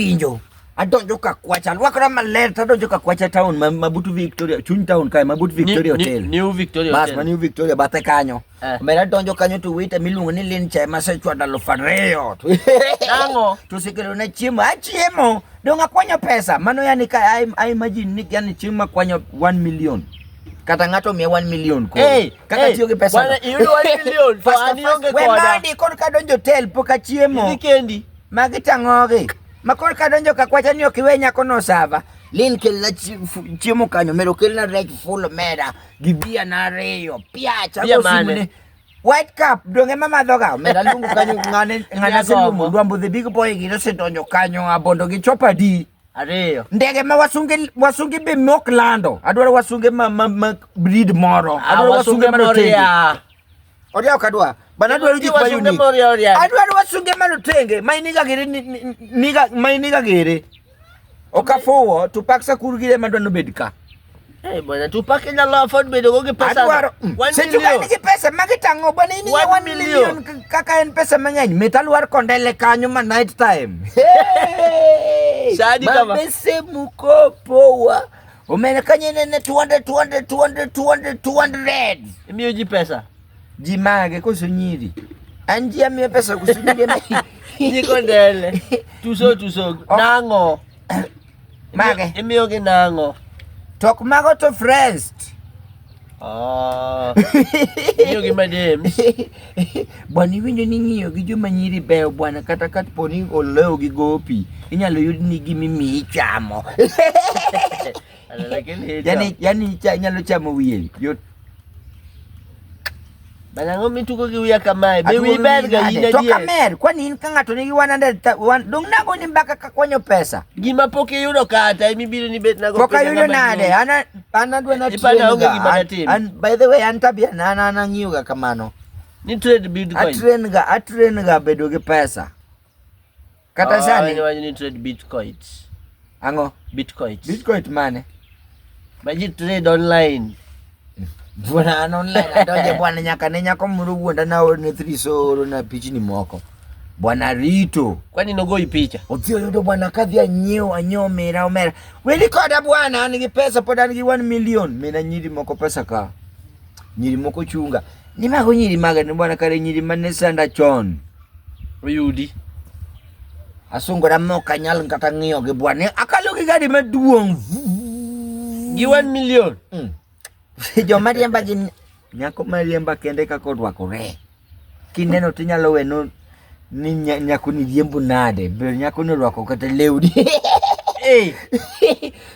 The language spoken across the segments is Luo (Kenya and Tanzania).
pinjo adonjo ka kwacha alwakra maler to adonjo ka kwacha town ma, mabut victoria chuny town kae mabut victoria Ni- ni- hotel New Victoria bas Hotel. ma new victoria bathe kanyo Eh. omera adonjo kanyo to wita miluongo ni lin chae masechwado alufu ariyo To- Nang'o? to osekelo na chiemo achiemo dong akwanyo pesa mano yani ka I, I imagine ni yani chieng' makwanyo 1 million kata ng'ato miya 1 million koro. Hey, kaka hey, tiyo gi pesa bwana, iyudo 1 million, to an ionge koda. wemadi kod kadonjo hotel pok achiemo Idhi kendi. Magi tang'ogi. Ma koro ka donjo ka kwacha ni ok iwe nyako no sava. Lin kelna chiemo kanyo mero kelna reg full mera gi bia na ariyo. Piacha go simne. White cup donge mama doga mera lungu kanyo ngane ngana silumu dwambo the big boy gi se donjo kanyo abondo gi chopa di. Ariyo. Ndege ma wasunge wasunge be mok lando. Adwaro wasunge ma, ma, ma breed moro. Ah, Adwaro wasunge, wasunge ma rotenge. Odia kadwa. Bana dwaro gik ma unique. Adwaro wasunge malotenge, ma iniga gere niga ma iniga gere. Okafuwo to paksa kurgire ma dwano bed ka. Eh bwana tupake na law afford bedo go gi pesa. Adwaro. Mm. Se tuka ni gi pesa ma gitango bwana ini 1 million kaka en pesa mang'eny. Metal war kondele kanyo ma night time. Hey! Sadi kama. Mabese mukopo wa. Umerekanye nene 200 200 200 200 200. Imiyo ji pesa. Ji mage koso nyiri. An ji amiyo pesa koso nyiri. Ji kondele. Tuso tuso. Oh. Nango. Mage. Imiyo gi nango. Tok mago to friends. Ah. Iyo gi madems. Bwana iwinjo ni ng'iyo gi joma nyiri beyo bwana kata ka po ni olewo gi gopi inyalo yud ni gimi mi ichamo. Lakini yani yani inyalo chamo wiye. Yot Bana ngo mituko ki uya kamae. Be wi ber ga yine die. To kamer, kwa ni ka ngato ni 100 wan dong nago ni mbaka ka kwanyo pesa. Gima poke yudo kata imi biro ni bet nago. Poka yudo nade? Ana ana dwe na tiyo. Ana onge gima na tiyo. And by the way an tabia na ana na ngiyo ga kamano. Ni trade bitcoin. Atren ga atren ga bedo gi pesa. Kata sani. Awinjo wach ni trade bitcoins. Ang'o? Bitcoins. Bitcoin mane? Ma ji trade online. Bwana an online adonje bwana nyaka ne nyako moro wuonda na orne three so orona pichni moko. Bwana Rito. Kwani nogoi picha? Odhi oyudo bwana kadhi anyiew anyiew omera omera. Wedi koda bwana an gi pesa pod an gi 1 million. Mina nyiri moko pesa ka. Nyiri moko chunga. Ni mago nyiri maga ni bwana kare nyiri mane sanda chon. oyudi asungora mok anyal kata ng'iyo gi bwa ni akalo gi gari maduong' gi one million mm. joma riemba gi nyako mariemba kende kaka orwakore kineno tinyalo weno ni nyako ni riembo nade ber nyako ni orwako kata lewni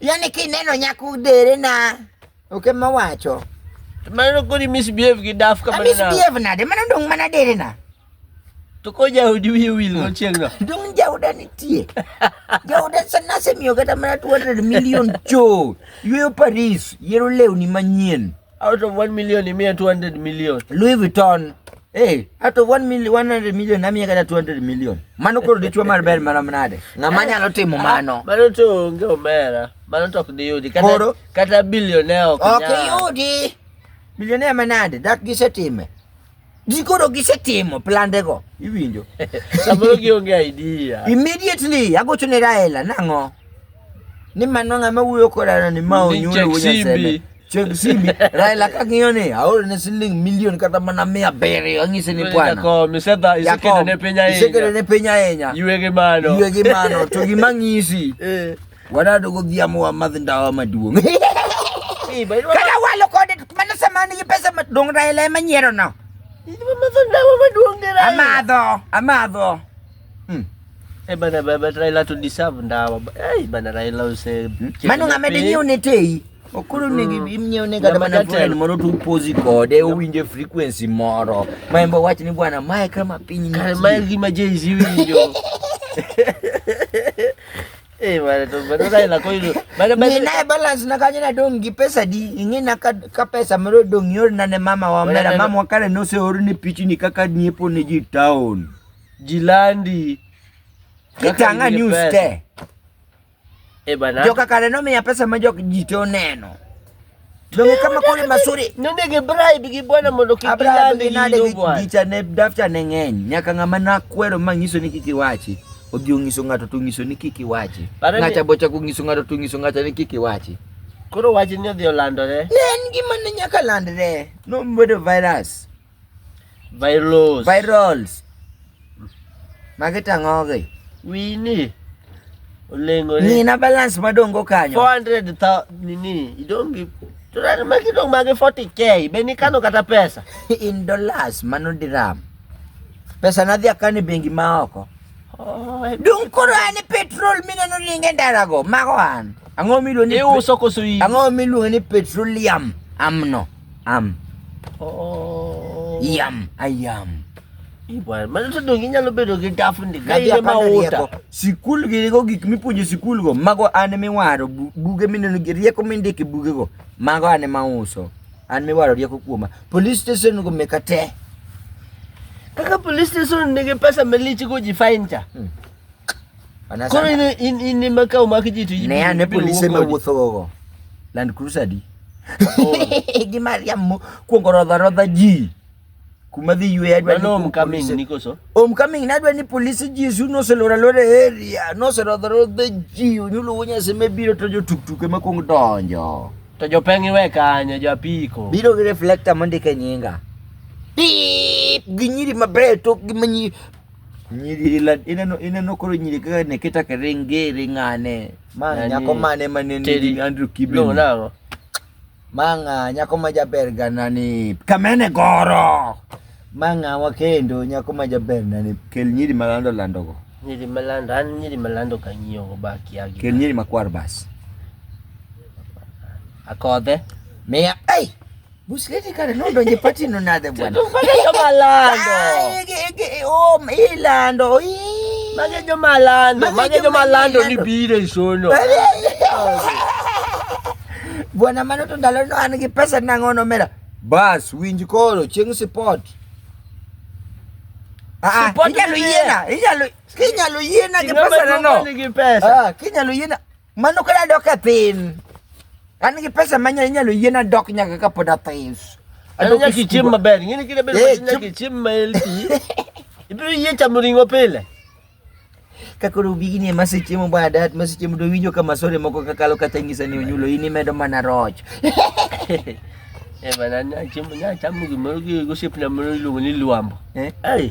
yani kineno nyako dere na Ok ema wacho. To mano koni misbehave gi daf kamano. Misbehave nade? Mano dong mana dere na. To ko jaudi wiye wil no chieng' no. Dong jauda nitie. Jauda sana semiyo kata mana 200 million cho. Yweyo Paris, yiero lewni manyien. Out of 1 million imiya 200 million. Louis Vuitton. Hey, out of 1 million 100 million namiya kata 200 million. Mano koro dichwo mar ber mana nade? Ng'ama nyalo timo mano? Mano to onge omera. Mano to ok diyudi. Koro kata bilionea ok ok nyal. iyudi bilionea manade dak gisetime ji koro gisetimo plandego iwinjo Samoro gionge idea. immediately agocho ne raela nang'o ni mano ng'ama wuoyo kodano ni ma Ni onyulo wuonya chek seme simbi. chek simbi raela kang'iyo ni aoro ne siling milion kata mana mia abiriyo ang'ise ni bwana Jakom, isedha- isekedo ne piny isekedo ahinya. ne piny ahinya Ywe gi mano. ywe gi mano to gima ng'isi Eh. Wana dogo vya mwa madhi ndawa maduong. Kala walo kode mana samani gi pesa madong raila ema nyiero no. Idwa madho ndawa maduong ne raila. Amadho, amadho. Hmm. Eh bana baba raila to deserve ndawa. Eh bana raila use. Hmm. Mano ngamede nyiu ne tei. Okuru ne gi hmm. nyiu ne kata mana friend moro tu pozi kode owinje frequency moro. Maembo wach ni bwana mae kama piny ni. Mae gi ma Jay-Z winjo. Eh, wale tu bado dai na koilu. Bado bado. Nina balance na kanya na dong gi pesa di. Ingi na ka, ka pesa mro dong yor na ne mama wa mera mama wa kare no se oru ni pichi ni kaka ni po ni ji town. Jilandi. Kitanga news te. Eh bana. Joka kare no me ya pesa ma jok ji to neno. Donge kama kule masuri. Nende gi bribe gi bwana mondo kik ilande nade gi gicha ne dafta ne ng'eny. Nyaka ng'ama na kwero ma nyiso ni kiki wachi. Odhi onyiso ng'ato to nyiso ni kiki wachi. Ng'acha bocha ku nyiso ng'ato to nyiso ng'acha ni kiki wachi. Koro wachi ni odhi olandore. Ne en gima ne nyaka landre. No mbedo virus. Virals. Virals. Magi tang'ogi. Wini. Olengore. Ni na balance madongo kanyo. 400 ta nini? Idongi Turani magi dong magi 40k. Beni kano kata pesa. In dollars mano dirham. Pesa nadhi akani bengi ma oko. Oh, Dung koro an petrol mineno ringe ndarago mago an. Ang'o miluongo ni iuso koso in? Ang'o miluongo ni petroleum amno? Am. Oo. Yam. Ayam. Ibwana, mano to donge inyalo bedo gi dafu ndi ka in ema uta. Sikul gi go gik mipuonjo sikul go, mago an miwaro buge mineno gi rieko mindike buge go, mago an ema uso. An miwaro rieko kuoma. Police station go meka te. Kaka police station nigi pesa malichi go ji fine cha. Hmm. Koro in in in ema ka omak ji to ne ane polise ma wuotho gogo Land Cruiser di gi Mariam kuongo rodha rodha ji kuma dhi ywe adwa ni homecoming ni koso homecoming na adwa ni polise ji su no se lora lora area no se rodha rodha ji onyulo wonya se me biro to jo tuk tuk ema kuong donjo to jo peng iwe kanyo jo apiko biro gi reflector mondike nyinga pip gi nyiri mabeyo tok gi manyi nyiri la ineno ineno koro nyiri kaka ne keta keringe ringane ma nyako mane mane ni Andrew Kibe no nago manga nyako ma jaber gana ni kamene goro manga wakendo nyako ma jaber nani kel nyiri malando lando go nyiri malando an nyiri malando kanyiyo go ba kiagi kel nyiri makwar bas akodhe miya ei hey! Busleti kare nodonje pati no nade bwana. Tufanye joma lando. Oh, ilando. Mage joma lando. Mage joma lando ni bire isono. Bwana mano to ndalo no an gi pesa nang'o nomera. Bas winj koro chieng' sipot. Ah, ah inyalo yiena, inyalo inyalo yiena gi pesa nano. Ah, kinyalo yiena. Mano kod adok e piny. An gi pesa ma nyalo nyalo yiena dok nyaka ka pod athis. Ano Adok e nyaka ichiem skul. maber. Ng'ini kile bedo Eh, machina chiem- nyaka ichiem ma healthy. Ibiro yie chamo ring'o pile. Ka koro bigini ema sechiemo badat ma sechiemo do winjo ka masore moko kakalo kata nyisa ni onyulo in imedo mana roch. Eh bana nya chamo nya chamo gimoro gi gosiepna moro iluongo ni luambo. Eh? Ai.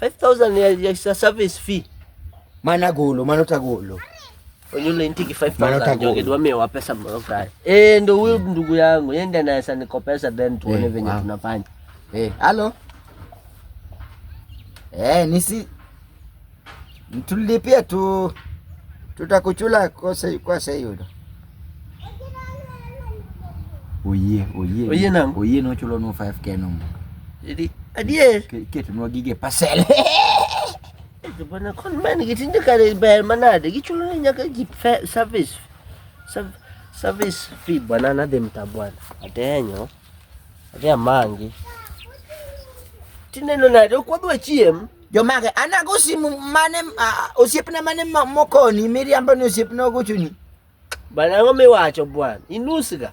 5000 ya, ya service fee. Mana golo, mano tagolo. Onyulo intiki 5000 joge dwa mewa pesa moro kae. Eh, ndo huyo ndugu yangu, yeye ndiye anaweza nikopesa then tuone eh, venye tunafanya. Eh, halo. Eh, nisi Tulipia tu tutakuchula kwa sei kwa sei udo. Oye, oye. Oye nang. Oye no chulo no 5k no. Jadi adie. Ketu no gige pasel. Bana kon man gitinda kare bayar mana da gichulo ne nyaka gi service. Service fee bwana na dem tabwana. Atenyo. Atenyo mangi. Tineno nade okwadwa chiem. jomage anago simu mane osiepna mane mokoni miriambo ni osiepna ogochoni bana ang'o miwacho bwana inusga